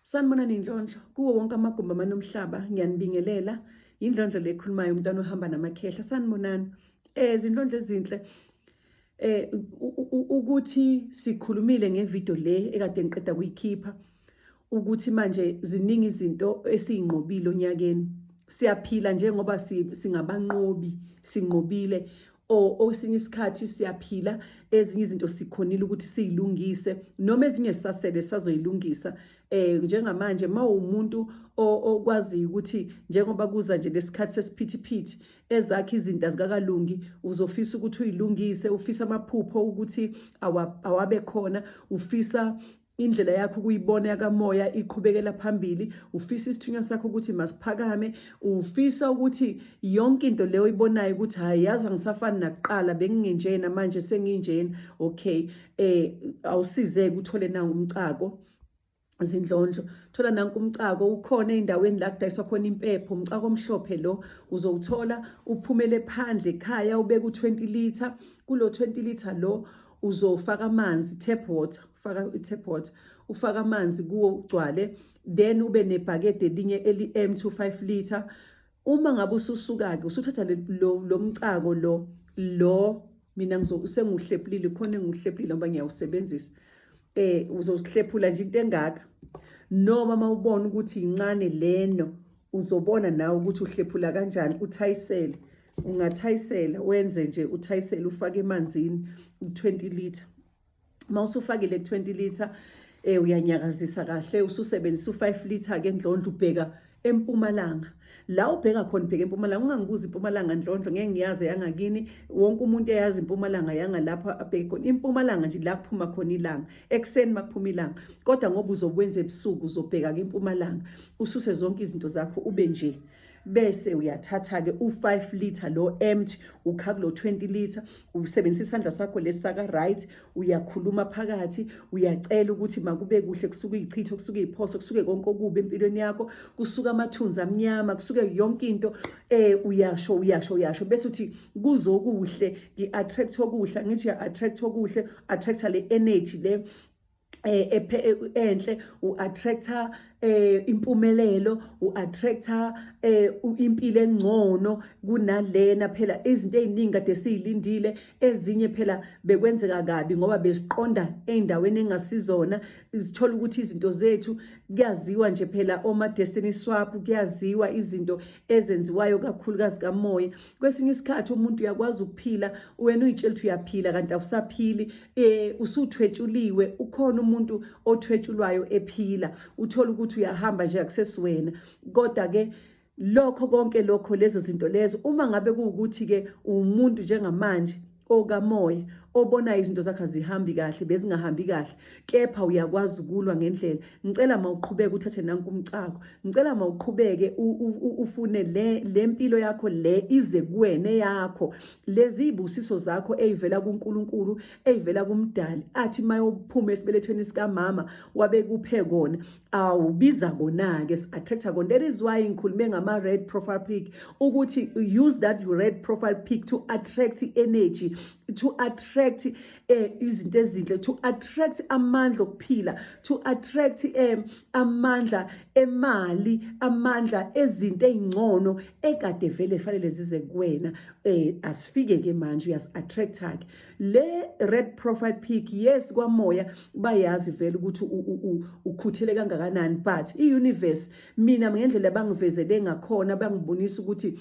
Sanibonani inhlonhlo kuwo wonke amagumbi amanomhlaba ngiyanibingelela indlondlo le ekhulumayo umntwana ohamba namakhehla sanibonani eh izinhlondlo ezinhle eh ukuthi sikhulumile ngevideo le ekade ngiqeda kuyikhipha ukuthi manje ziningi izinto esiyinqobile onyakeni siyaphila njengoba singabanqobi sinqobile or osinye isikhathi siyaphila ezinye izinto sikhonile ukuthi siyilungise noma ezinye sasele sazoyilungisa eh njengamanje mawumuntu okwazi ukuthi njengoba kuza nje lesikhathi sesiphithiphithi ezakhe izinto azikakalungi uzofisa ukuthi uyilungise ufisa amaphupho ukuthi awabe khona ufisa indlela yakho ukuyibona yakamoya iqhubekela phambili ufisa isithunywa sakho ukuthi masiphakame ufisa ukuthi yonke into leyo oyibonayo ukuthi hayi yazi angisafani nakuqala bengingenjena manje senginjena okay eh awusizeke uthole na umcako zindlondlo thola nanku umcako ukhona endaweni la kudayiswa khona impepho umcako omhlophe lo uzowuthola uphumele phandle ekhaya ubeke u20 liter kulo 20 liter lo uzofaka amanzi tap water ufaka i-tap water ufaka amanzi kuwo ugcwale then ube nebhakede elinye eli-empty u-five litre uma ngabe ususuka-ke usuthatha lo mcako lo lo mina sengiwuhlephulile khona engiwuhlephulile ngoba ngiyawusebenzisa um uzozihlephula nje into engaka noma uma ubona ukuthi yincane leno uzobona nawe ukuthi uhlephula kanjani uthayisele ungathayisela wenze nje uthayisele ufake emanzini 20 liter uma usufakile 20 liter eh uyanyakazisa kahle ususebenzisa u5 liter ke ndlondlo ubheka empumalanga la ubheka khona ubheka empumalanga ungangibuza impumalanga ndlondlo ngeke ngiyazi yangakini wonke umuntu eyazi impumalanga yangalapha abheke khona impumalanga nje la kuphuma khona ilanga ekuseni makuphuma ilanga kodwa ngoba uzokwenza ebusuku uzobheka ke impumalanga ususe zonke izinto zakho ube nje bese uyathatha-ke u-5 litre lo empty ukha kulo 20 litre usebenzisa isandla sakho lesi saka-right uyakhuluma phakathi uyacela ukuthi makube kuhle kusuke iyichitho kusuke iyiphoso kusuke konke okubi empilweni yakho kusuke amathunzi amnyama kusuke yonke into eh uyasho uyasho uyasho bese uthi kuzokuhle ngi-attract okuhle ngithi uya-attract okuhle attracta le energy le eh, eh, enhle uattractor eh impumelelo uattractor eh impilo engcono kunalena phela izinto eziningi kade silindile ezinye phela bekwenzeka kabi ngoba besiqonda eindaweni engasizona izithola ukuthi izinto zethu kuyaziwa nje phela oma destiny swap kuyaziwa izinto ezenziwayo kakhulu kazikamoya kwesinye isikhathi umuntu uyakwazi ukuphila wena uyitshela ukuthi uyaphila kanti awusaphili eh usuthwetshuliwe ukhona umuntu othwetshulwayo ephila uthola ukuthi uyahamba nje akusesiwena kodwa ke lokho konke lokho lezo zinto lezo uma ngabe kuwukuthi ke umuntu njengamanje okamoya obona izinto zakhe zihambi kahle bezingahambi kahle kepha uyakwazi ukulwa ngendlela ngicela mawuqhubeke uthathe nanku umcako ngicela mawuqhubeke ufune le lempilo yakho le ize kuwene yakho lezi ibusiso zakho eyivela kuNkulunkulu eyivela kumdali athi mayophuma esibelethweni sikamama wabekuphe kona awubiza kona ke attractor kona that is why ngikhulume ngama red profile pic ukuthi use that red profile pic to attract energy to attract eh izinto ezinhle to attract amandla okuphila to attract eh amandla emali amandla ezinto ezingcono ekade vele fanele zize kuwena eh asifike ke manje uyas attract ke le red profile pic yes kwamoya bayazi vele ukuthi ukhuthele kangakanani but i universe mina ngendlela bangivezele ngakhona bangibonisa ukuthi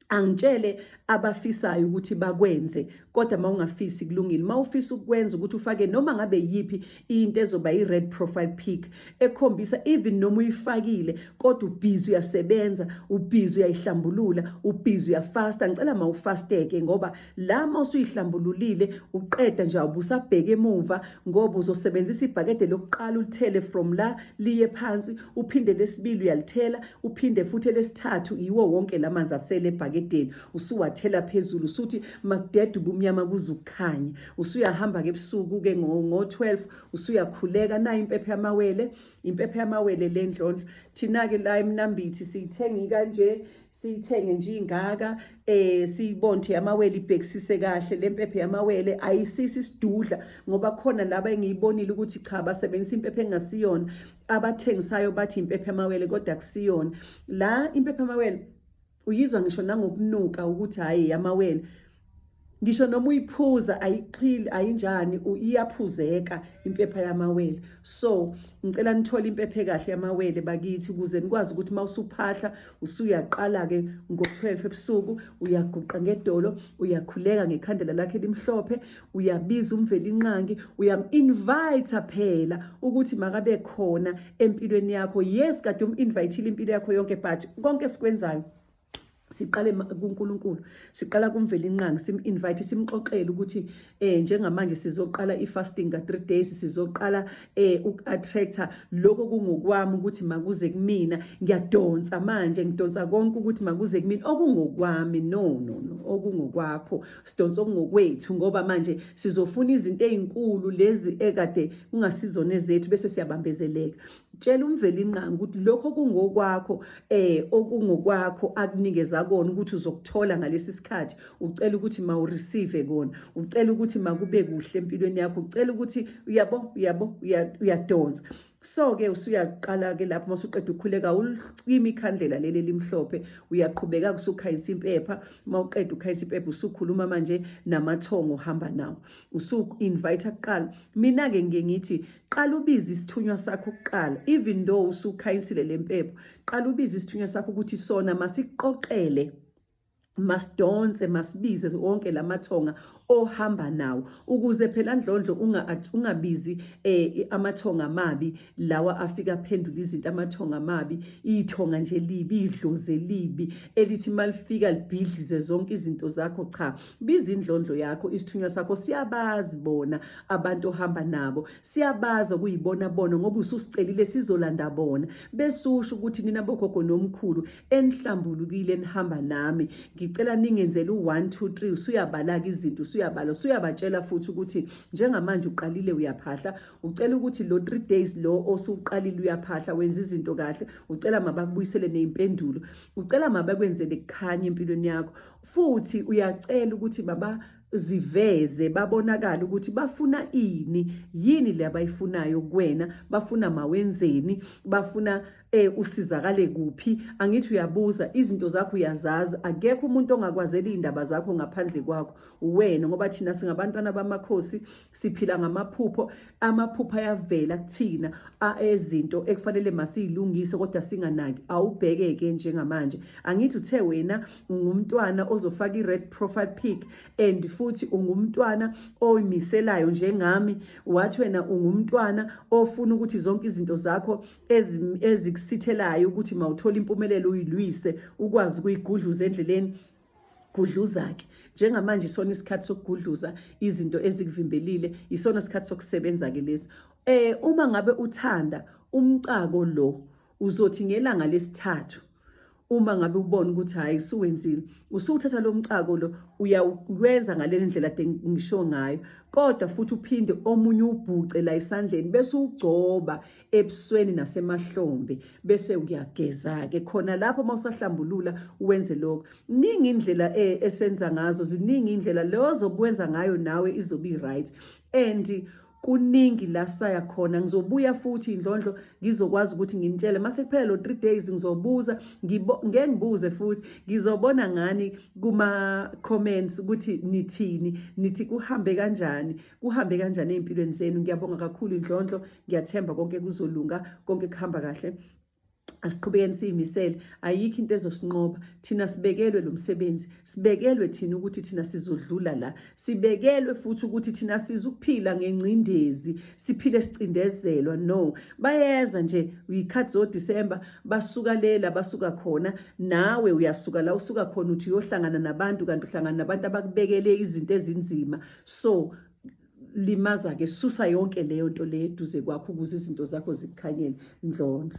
angitshele abafisayo ukuthi bakwenze kodwa mawungafisi kulungile mawufisa ukwenza ukuthi ufake noma ngabe yipi into ezoba i red profile pic ekhombisa even noma uyifakile kodwa ubhizi uyasebenza ubhizi uyayihlambulula ubhizi uyafasta ngicela mawufasteke ngoba lama usuyihlambululile uqeda nje awubusabheke emuva ngoba uzosebenzisa ibhakede lokuqala ulithele from la liye phansi uphinde lesibili uyalithela uphinde futhi lesithathu yiwo wonke la manzi asele ebhakedeni usuwathela phezulu usuthi makudede ubumnyama kuze ukukhanya usuyahamba-ke ebusuku-ke ngo-12 usuyakhuleka nayo impepho yamawele impepho yamawele le ndlondlo thina-ke la emnambithi siyithengi kanje siyithenge nje ingaka eh siyibonde amawele ibhekisise kahle lempephe yamawele ayisisi sidudla ngoba khona laba engiyibonile ukuthi cha basebenzisa impephe engasiyona abathengisayo bathi impephe yamawele kodwa kusiyona la impephe yamawele uyizwa ngisho nangokunuka ukuthi hayi yamawele ngisho noma uyiphuza ayixhili ayinjani iyaphuzeka impepha yamawele so ngicela nithole impephe kahle yamawele bakithi ukuze nikwazi ukuthi uma usuphahla usuyaqala-ke ngo-12 ebusuku uyaguqa ngedolo uyakhuleka ngekhandela lakhe elimhlophe uyabiza umvelinqangi uyam-invayitha phela ukuthi makabe khona empilweni yakho yes kade um-invayithile impilo yakho yonke but konke esikwenzayo siqale kuNkulunkulu siqala kumvela inqangi sim-invite simxoxele ukuthi eh njengamanje sizoqala i-fasting ka-three days sizoqala eh uku-attractor lokho kungokwami ukuthi makuze kumina ngiyadonsa manje ngidonsa konke ukuthi makuze kumina okungokwami no no no okungokwakho sidonsa okungokwethu ngoba manje sizofuna izinto ey'nkulu lezi ekade kungasizona ezethu bese siyabambezeleka tshela umvelinqangi ukuthi lokho kungokwakho eh okungokwakho akunikeza kona ukuthi uzokuthola ngalesi sikhathi ucela ukuthi mawureceive kona ucela ukuthi makube kuhle empilweni yakho ucela ukuthi uyabo uyabo uyadonsa so ke usuyaqala ke lapho masuqeda ukukhuleka ulimi ikhandlela leli limhlophe uyaqhubeka kusukhayisa impepha mawuqeda ukhayisa impepha usukhuluma manje namathongo hamba nawo usu invite kuqala mina ke ngiye ngithi qala ubize isithunywa sakho kuqala even though usukhanyisile lempepho qala ubize isithunywa sakho ukuthi sona masiqoqele masidonse masibize wonke lamathonga ohamba nawo ukuze phela ndlondlo ungabizi eh, amathonga amabi lawa afika aphendula izinto amathonga amabi ithonga nje libi idloze libi elithi malifika libhidlize zonke izinto zakho cha biza indlondlo yakho isithunywa sakho siyabazi bona abantu ohamba nabo siyabazi okuyibona bona ngoba ususicelile sizolanda bona besusho ukuthi nina bogogo nomkhulu enihlambulukile enihamba nami ngicela ningenzele u1 2 3 usuyabalaka izinto usuyabala usuyabatshela futhi ukuthi njengamanje uqalile uyaphahla ucela ukuthi lo 3 days lo osuqalile uyaphahla wenza izinto kahle ucela mabakubuyisele nezimpendulo ucela mabakwenzele kukhanya empilweni yakho futhi uyacela ukuthi baba ziveze babonakala ukuthi bafuna ini yini le abayifunayo kuwena bafuna mawenzeni bafuna eh usizakale kuphi angithi uyabuza izinto zakho uyazazi akekho umuntu ongakwazela indaba zakho ngaphandle kwakho wena ngoba thina singabantwana bamakhosi siphila ngamaphupho amaphupho ayavela kuthina ezinto ekufanele masiyilungise kodwa singanaki awubheke ke njengamanje angithi uthe wena ungumntwana ozofaka i-red profile pic and futhi ungumntwana oyimiselayo njengami wathi wena ungumntwana ofuna ukuthi zonke izinto zakho ezikusithelayo ukuthi mawuthola impumelelo uyilwise ukwazi ukuyigudluza endleleni gudluza-ke njengamanje isona isikhathi sokugudluza izinto ezikuvimbelile isona isikhathi sokusebenza-ke lesi um uma ngabe uthanda umcako lo uzothi ngelanga lesithathu uma ngabe ubona ukuthi hhayi usuwenzile usuwuthatha lo mcako lo uyawukwenza ngale ndlela de ngisho ngayo kodwa futhi uphinde omunye ubhuce la esandleni bese ugcoba ebusweni nasemahlombe bese uyageza-ke khona lapho uma usahlambulula wenze lokho ningi indlela eh, esenza ngazo ziningi indlela leyo zokwenza ngayo nawe izobe i-right and kuningi la saya khona ngizobuya futhi indlondlo ngizokwazi ukuthi nginitshele mase kuphela lo 3 days ngizobuza ngeke ngibuze futhi ngizobona ngani kuma comments ukuthi nithini nithi kuhambe kanjani kuhambe kanjani ey'mpilweni zenu ngiyabonga kakhulu indlondlo ngiyathemba konke kuzolunga konke kuhamba kahle asiqhubekeni siyimisele ayikho into ezosinqoba thina sibekelwe lo msebenzi sibekelwe thina ukuthi thina sizodlula la sibekelwe futhi ukuthi thina sizukuphila ngengcindezi siphile sicindezelwa no bayeza nje uyikhathi zodisemba basuka lela basuka khona nawe uyasuka la usuka khona uthi uyohlangana nabantu kanti uhlangana nabantu abakubekele izinto ezinzima so limaza-ke susa yonke leyo nto leyo eduze kwakho ukuze izinto zakho zikukhanyele ndlondlo